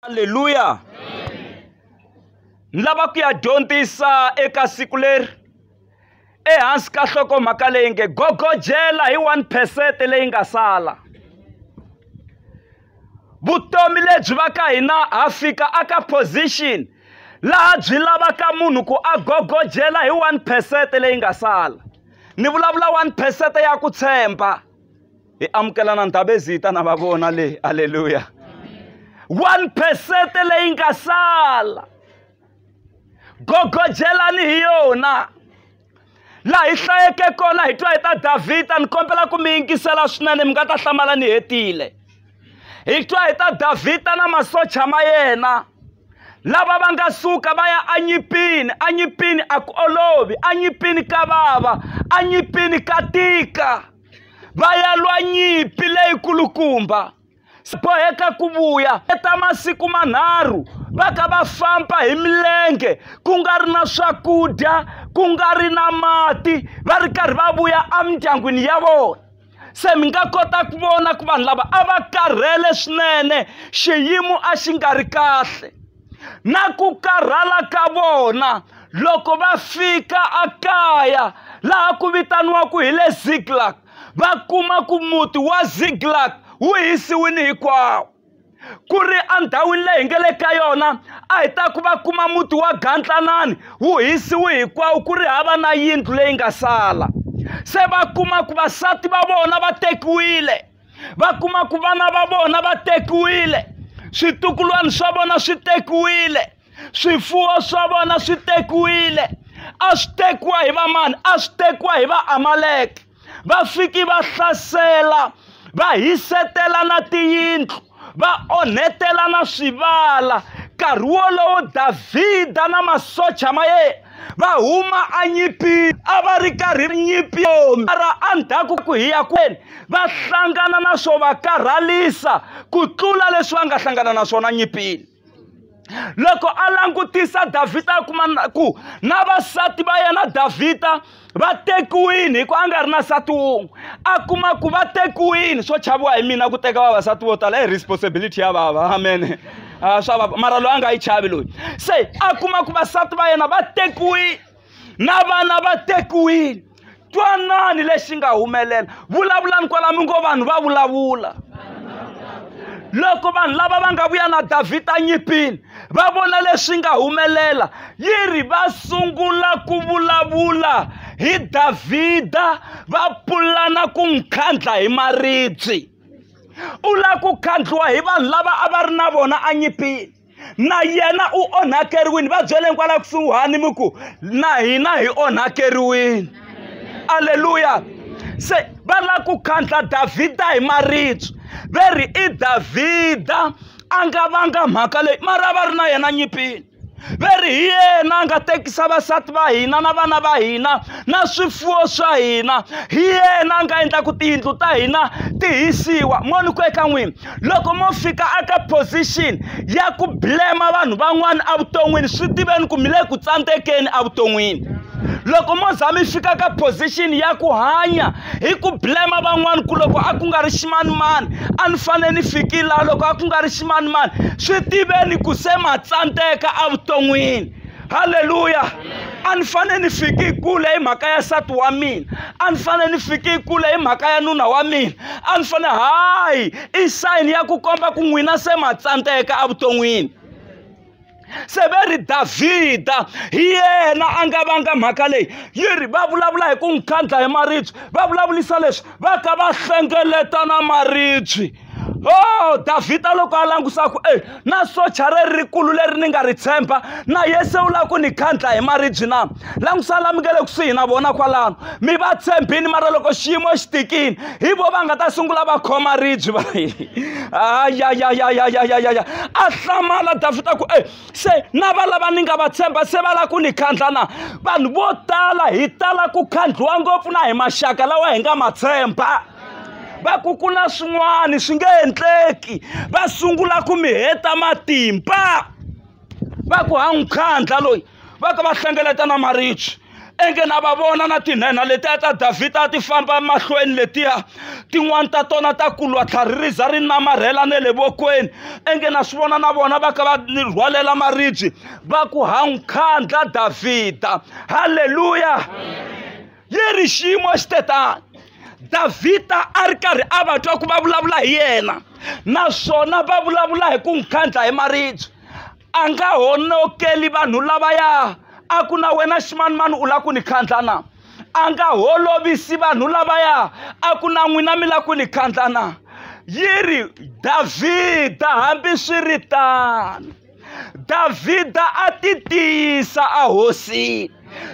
halleluya ni lava ku ya dyondzisa eka siku leri ehansi ka hlokomhaka leyi nge gogojela hi 1 percent leyi nga sala vutomi lebyi va ka hina ha fika aka position laha byi lavaka munhu ku a gogojela hi 1 percent leyi nga sala ni vulavula 1 percent ya ku tshemba hi amukela na ndhabezita na va vona leyi aleluya one percent leyi nga sala gogojelani hi yona laha hi hlayeke kona hi twa hi ta davhida ni kombela ku mi yingisela swinene mi nga ta hlamala ni hetile hi twa hi ta davhida na masocha ma yena lava va nga suka va ya anyipini anyipini a ku olovi anyipini ka vava anyipini ka tika va ya lwa nyimpi leyikulukumba swi boheka ku vuya eka masiku manharhu va ka va famba hi milenge ku nga ri na swakudya ku nga ri na mati va ri karhi va vuya emindyangwini ya vona se mi nga kota ku vona ku vanhu lava a va karhele swinene xiyimo a xi nga ri kahle na ku karhala ka vona loko va fika ekaya laha ku vitaniwaka hi le ziglak va kuma ku muti wa ziglak wu hisiwile hinkwawo ku ri endhawini leyi hi nga le ka yona a hi ta ku va kuma muti wa gantlanani wu hisiwe hinkwawo ku ri hava na yindlu leyi nga sala se va kuma ku vasati va vona va tekiwile va kuma ku vana va vona va tekiwile switukulwana swa vona swi tekiwile swifuwo swa vona swi tekiwile a swi tekiwa hi vamani a swi tekiwa hi vaamaleke va fiki va hlasela va hisetela na tiyindlu va onhetelana swivala nkarhi wolowo davhida na masocha ma yena va huma anyipini a va ri karhi nyimpi mara endzhaku ku hiya kwenu va hlangana na swo va karhalisa ku tlula leswi va nga hlangana na swona nyipini loko a langutisa davhida a kuma ku na vasati va yena davhida va tekiwile hikuva a nga ri na nsati wun'we a kuma ku va tekiwile swo chaviwa hi mina ku teka vavasati vo tala i responsibility ya vava amen ah, swa vava mara loyi a nga yi chavi loyi se a kuma ku vasati va yena va tekiwile na vana va tekiwile twanani lexi nga humelela vulavulani kwalami ngo vanhu va vulavula loko vanhu lava va nga vuya na davhida nyipini va vona leswi nga humelela yi ri va sungula ku vulavula hi davhida va pulana ku n'wi khandla hi maribye u lava ku khandliwa hi vanhu lava a va ri na vona enyipini na yena u onhakeriwile va byeleni kwala kusuhani mi ku na hina hi onhakeriwile aleluya se va lava ku khandla davhida hi maribye ve ri i davhida a nga vanga mhaka leyi mara va ri na yena nyipini ve ri hi yena a nga tekisa vasati va hina na vana va hina na swifuwo swa hina hi yena a nga endla ku tiyindlu ta hina ti hisiwa moni ku eka n'wina loko mo fika aka position ya ku blema vanhu van'wana evuton'wini swi tiveni ku mi le ku tsandzekeni evuton'wini loko mo za mi fika ka position ya ku hanya hi ku blema van'wana ku loko a ku nga ri ximanimani a ni fanele ni fikile laha loko a ku nga ri ximanimani swi tiveni ku se ma tsandzeka evuton'wini halleluya a ni fanele ni fike kule hi mhaka ya nsati wa mina a ni fanele ni fike kule hi mhaka ya nuna wa mina a ni fanele hayi i sayini ya ku komba ku n'wina se ma tsandzeka evuton'wini se ve ri davhida hi yena a nga vanga mhaka leyi yi ri va vulavula hi ku n'wi khandla hi maribye va vulavulisa leswi va ka va hlengeletana maribye Oh, Davhida loko a langusa ku e na socha leri rikulu leri ni nga ri tshemba na yese u lava ku ni khandla hi maribyi na langusa lami nga le kusuhi na vona kwalano mi va tshembini mara loko xiyimo xi tikini hi vo va nga ta sungula va khoma ribyi va ayayayayayayaya a hlamala Davhida ku e se na va lava ni nga va tshemba se va lava ku ni khandla na vanhu vo tala hi tala ku khandliwa ngopfu na hi maxaka lawa hi nga ma tshemba va ku ku na swin'wana swi nge endleki va sungula ku mi heta matimba va ku ha n'wi khandla loyi va ka va hlengeleta na marichi enge na va vona na tinhenha letiya ta davhida a ti famba mahlweni letiya tin'wani ta tona ta kulwa tlhari ri za ri namarhela ne le vokweni enge na swi vona na vona va ka va rhwalela maribye va ku ha n'wi khandla davhida halleluya leri xiyimo xi te tani davhida a ri karhi a va twa ku va vulavula hi yena naswona va vulavula hi ku n'wi khandla hi maribye a nga honokeli vanhu lavaya a ku na wena ximanimani u lava ku ni khandla na a nga holovisi vanhu lavaya a ku na n'wina mi lava ku ni khandla na yi ri davhida hambi swi ri tano davhida a ti tiyisa ahosini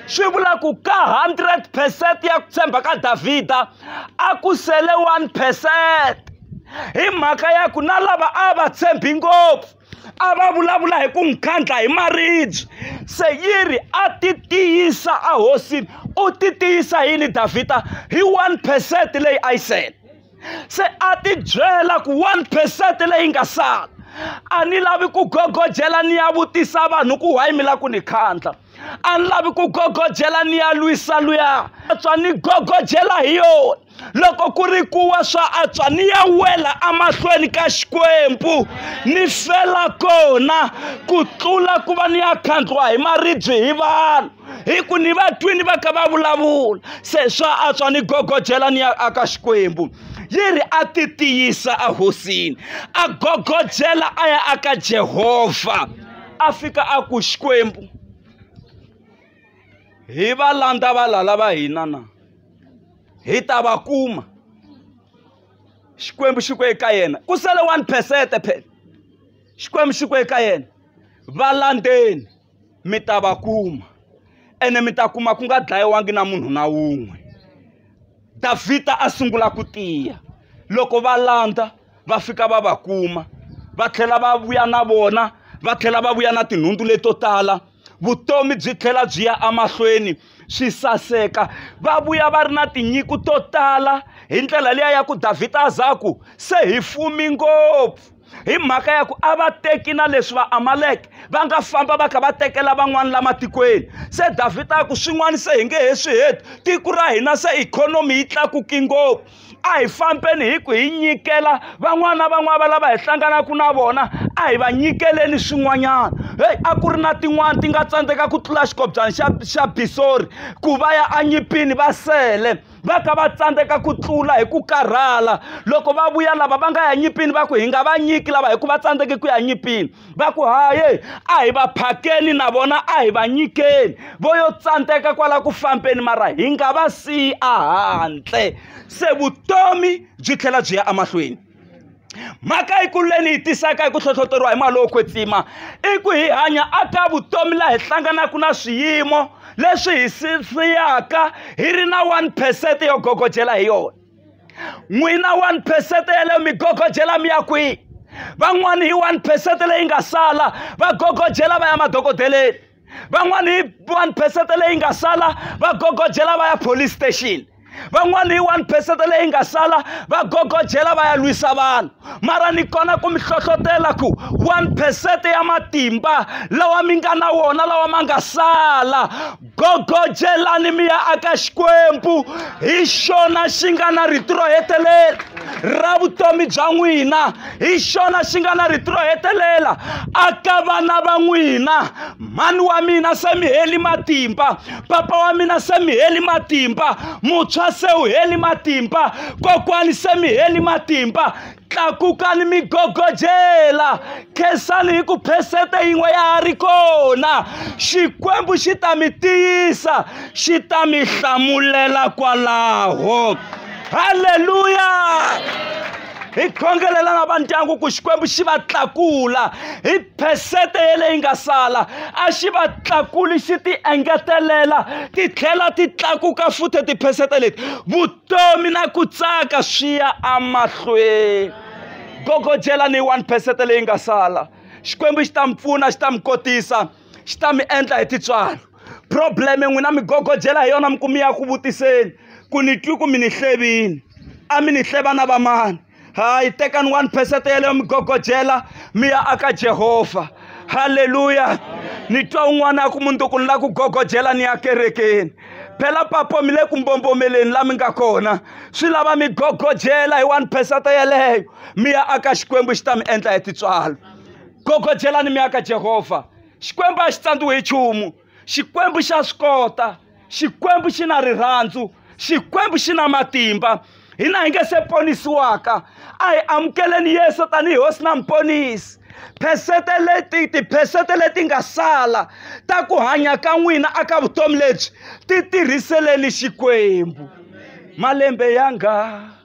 swi vula ku ka 100 percent ya ku tshemba ka davhida a ku sele 1 percent hi mhaka ya ku na lava a va tshembi ngopfu a va vulavula hi ku n'wi khandla hi maribye se yi ri a ti tiyisa ahosini u ti tiyisa yini davhida hi 1 percent leyi a yi sele se a ti byela ku one percent leyi nga sala a ni lavi ku gogodyela ni ya vutisa vanhu ku wayi mi la ku ni khandla a ni lavi ku gogodyela ni ya lwisa luya atswa ni gogodyela hi yona loko ku ri kuwa swa atswa ni ya wela emahlweni ka xikwembu ni fela kona ku tlula ku va ni ya khandliwa hi maribye hi vanhu hi ku ni vatwini va kha va vulavula se swa antswa ni gogodyela ni ya aka xikwembu yi ri a ti tiyisa ehosini a gogodyela a ya aka jehovha a fika a ku xikwembu hi va landza valala va hina na hi ta va kuma xikwembu xi ku eka yena ku sele one percent phela xikwembu xi ku eka yena va landzeni mi ta va kuma ene mi ta kuma ku nga dlayiwangi na munhu na wun'we Davhida a sungula ku tiya loko va landza va fika va va kuma va tlhela va vuya na vona va tlhela va vuya na tinhundzu leto tala vutomi byi tlhela byi ya emahlweni swi saseka va vuya va ri na tinyiko to tala hi ndlela liya ya ku Davhida a za ku se hi fumi ngopfu. hi mhaka ya ku a va teki na leswi va amaleke va nga famba va kha va tekela van'wana la matikweni se davhida a ku swin'wana se hi nge he swi heti tiko ra hina se ikhonomi yi tlakuki ngopfu a hi fambeni hi ku hi nyikela van'wana van'wana va lava hi hlanganaka na vona a hi va nyikeleni swin'wanyana heyi a ku ri na tin'wana ti nga tsandzeka ku tlula xikobyana xa xa bisori ku va ya anyipini va sele va ka va tsandzeka ku tlula hi ku karhala loko va vuya lava va nga ya nyipini va ku hi nga va nyiki lava hi ku va tsandzeke ku ya nyipini va ku haye a hi va phakeni na vona a hi va nyikeni vo yo tsandzeka kwala ku fambeni mara hi nga va siyi a handle se vutomi byi tlhela byi ya emahlweni mhaka yikulu leyi ni yi tisaka hi ku hlohloteriwa hi mali yo kwetsima i ku hi hanya a ka vutomi laha hi hlanganaka na swiyimo leswi hi siyaka hi ri na one percent yo gogodyela hi yona n'wina one percent yaleyo mi gogodyela mi ya kwihi van'wani hi one percent leyi nga sala va gogodyela va ya madokodeleni van'wana hi one percent leyi nga sala va gogodyela va ya police station van'wana hi one percent leyi nga sala va gogodyela va ya lwisa vanhu mara ni kona ku mi hlohlotela ku one percent ya matimba lawa mi nga na wona lawa ma nga sala gogodyelani mi ya aka xikwembu hi xona xi nga na rito ro hetelela ra vutomi bya n'wina hi xona xi nga na rito ro hetelela aka vana va n'wina mhani wa mina se mi heli matimba papa wa mina se mi heli matimba mutshwa se u heli matimba kokwani se mi heli matimba tlakukani mi gogojela khensani hi ku phesete yin'we ya ha ri kona xikwembu xi ta mi tiyisa xi ta mi hlamulela kwalaho halleluya hi khongelela na va ndyangu ku xikwembu xi va tlakula hi phesete yeleyi nga sala a xi va tlakuli xi ti engetelela ti tlhela ti tlakuka futhi tiphesete leti vutomi na ku tsaka swi ya amahlweni gogodyela ni one phesete leyi nga sala xikwembu xi ta mi pfuna xi ta mi kotisa xi ta mi endla hi titswalo probleme n'wina mi gogojela hi yona mi ku mi ya ku vutiseni ku ni twi ku mi ni hlevini a mi ni hleva na vamani hayi tekani one percent yeleyo mi gogojela mi ya aka jehovha halleluya ni twa un'wana a ku mundzuku ni la ku gogojela ni ya kerekeni phela papo mi le ku mbombomeleni la mi nga kona swi lava mi gogojela hi one percent yeleyo mi ya aka xikwembu xi ta mi endla hi titswalo gogojelani mi ya ka jehovha xikwembu a xi tsandziwi hi nchumu xikwembu xa swi kota xikwembu xi na rirhandzu xikwembu xi na matimba hina hi nge se ponisiwaka a hi amukeleni yesu tanihi hosi na muponisi phesete leti tiphesete leti nga sala ta ku hanya ka n'wina aka vutomi lebyi ti tirhiseleni xikwembu malembe ya nga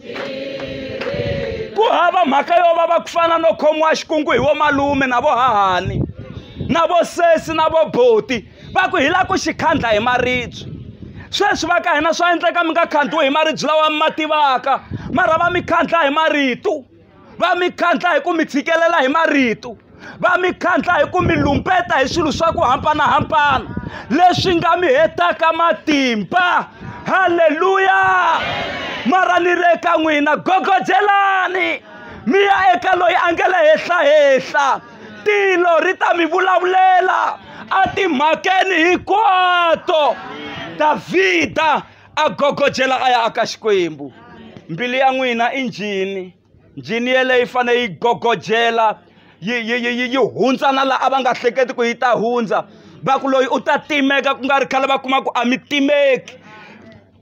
ku hava mhaka yo va va ku fana no khomiwa xikungu hi vo malume na vo hahani na vo sesi na vo boti va ku hi la ku xi khandla hi maribye sweswi va ka hina swa endleka mi nga khandziwi hi maribye lawa mi ma tivaka mara va mi khandla hi marito va mi khandla hi ku mi tshikelela hi marito va mi khandla hi ku mi lumbeta hi swilo swa ku hambanahambana leswi nga mi hetaka matimba halleluya mara ni ri eka n'wina gogojelani mi ya eka loyi a nge le henhlahehla tilo ri ta mi vulavulela a timhakeni hinkwato davhida a gogodzela a ya aka xikwembu mbilu ya n'wina i njhini njhini yeleyo yi fanele yi gogodzela yi yi yi yi yi hundza na laha a va nga hleketi ku yi ta hundza va ku loyi u ta timeka ku nga ri khale va kuma ku a mi timeki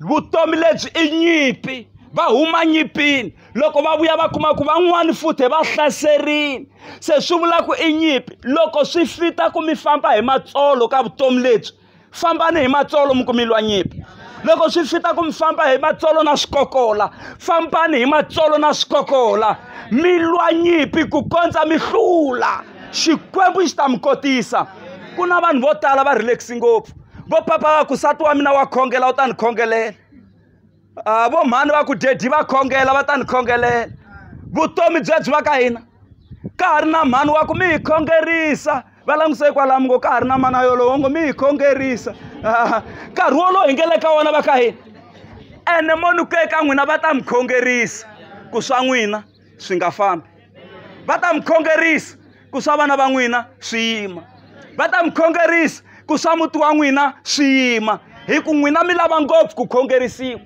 vutomi lebyi i nyimpi va huma nyimpini loko va vuya va kuma ku van'wani futhi va hlaserini se swi vula ku i nyimpi loko swi fita ku mi famba hi matsolo ka vutomi lebyi fambani hi matsolo mi ku mi lwa nyimpi loko swi fita ku mi famba hi matsolo na swikokola fambani hi matsolo na swikokola mi lwa nyimpi ku kondza mi hlula xikwembu xi ta mi kotisa ku na vanhu vo tala va relaxi ngopfu vo papa va ku sati wa mina wa khongela u ta ni khongelela a vo mhani va ku dedi va khongela va ta ni khongelela vutomi byebyi va ka hina ka ha ri na mhani wa ku mi hi khongerisa va languse hikwalamu ngo ka ha ri na mana yolowo ngo mi hi khongerisa nkarhi wolowo hi ngele ka wona va ka hina ene mo ni ku eka n'wina va ta mi khongerisa ku swa n'wina swi nga fambi va ta mi khongerisa ku swa vana va n'wina swi yima va ta mi khongerisa ku swa muti wa n'wina swi yima hi ku n'wina mi lava ngopfu ku khongerisiwa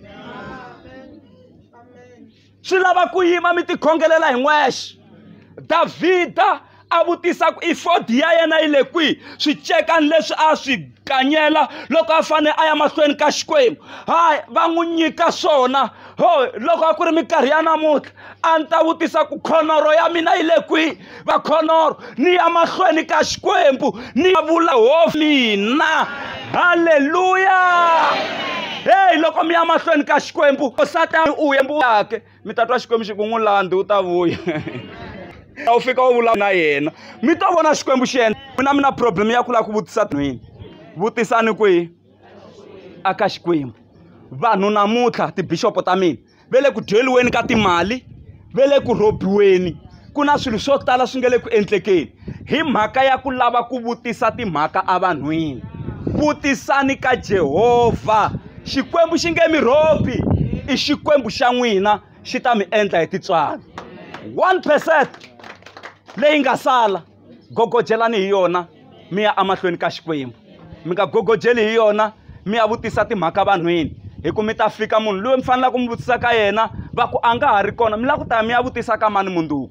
swi lava ku yima mi tikhongelela hi n'wexe davhida a vutisa ku ifodi ya yena yi le kwihi swicekani leswi a swi ganyela loko a fanele a ya mahlweni ka xikwembu hayi va n'wi nyika swona ho loko a ku ri minkarhi ya namuntlha a ni ta vutisa ku khonoro ya mina yi le kwihi va khonoro ni ya mahlweni ka xikwembu ni ya vula ho mina halleluya heyi loko mi ya mahlweni ka xikwembu osatani u yembuyake mi ta twa xikwembu xi ku n'wi landzi u ta vuya a wu fika u vulavula na yena mi ta vona xikwembu xi endla mina mi na problem ya ku lava ku vutisa nhwini vutisani kwihi a ka xikwembu vanhu namuntlha tibixopo ta mina ve le ku dyeliweni ka timali ve le ku rhobiweni ku na swilo swo tala swi nga le ku endlekeni Hi mhaka ya ku lava ku vutisa timhaka evanhwini, vutisani ka Jehovha. Xikwembu xi nge mi rhobi, i Xikwembu xa n'wina xi ta mi endla hi tintswalo. 1 percent leyi nga sala gogojelani hi yona mi ya emahlweni ka Xikwembu. Mi nga gogojeli hi yona mi ya vutisa timhaka vanhwini, hi ku mi ta fika munhu loyi mi fanelaka mi vutisa ka yena va ku a nga ha ri kona mi lava ku ta mi ya vutisa ka mani mundzuku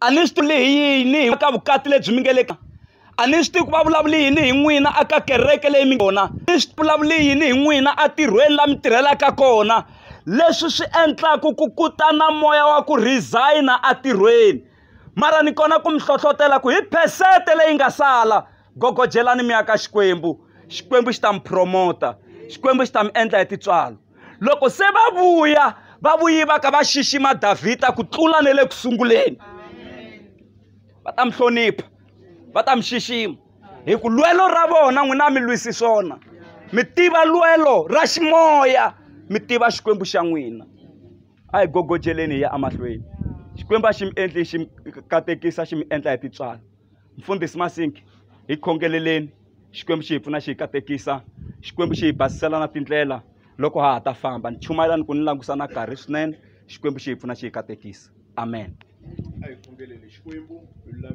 a ni swi tivi hi yini hi ka vukati lebyi mi nge le ka a ni swi tivi ku va vulavuli yini hi n'wina a ka kereke leyi mi kona ni swi vulavuli yini hi n'wina a tirhweni la mi tirhelaka kona leswi swi endlaku ku kutana moya wa ku resigner a tirhweni mara ni kona ku mi hlohlotela ku hi phesente leyi nga sala gogojelani mi ya ka xikwembu xikwembu xi ta mi promota xikwembu xi ta mi endla hi tintswalo loko se va vuya va vuyi va ka va xixima davhida ku tlula ne le ku sunguleni va ta mi hlonipha va ta mi xixima hi ku lwelo ra vona n'wina mi lwisi swona mi tiva lwelo ra ximoya mi tiva xikwembu xa n'wina a hi gogojeleni hi ya emahlweni xikwembu a xi mi endli xi mi katekisa xi mi endla hi titswana Mfundhisi Masinki, hi khongeleleni Xikwembu xi hi pfuna xi hi katekisa Xikwembu xi hi basisela na tindlela loko ha ha ta famba ni chumayela ni ku ni langusa na karhi swinene Xikwembu xi hi pfuna xi hi katekisa amen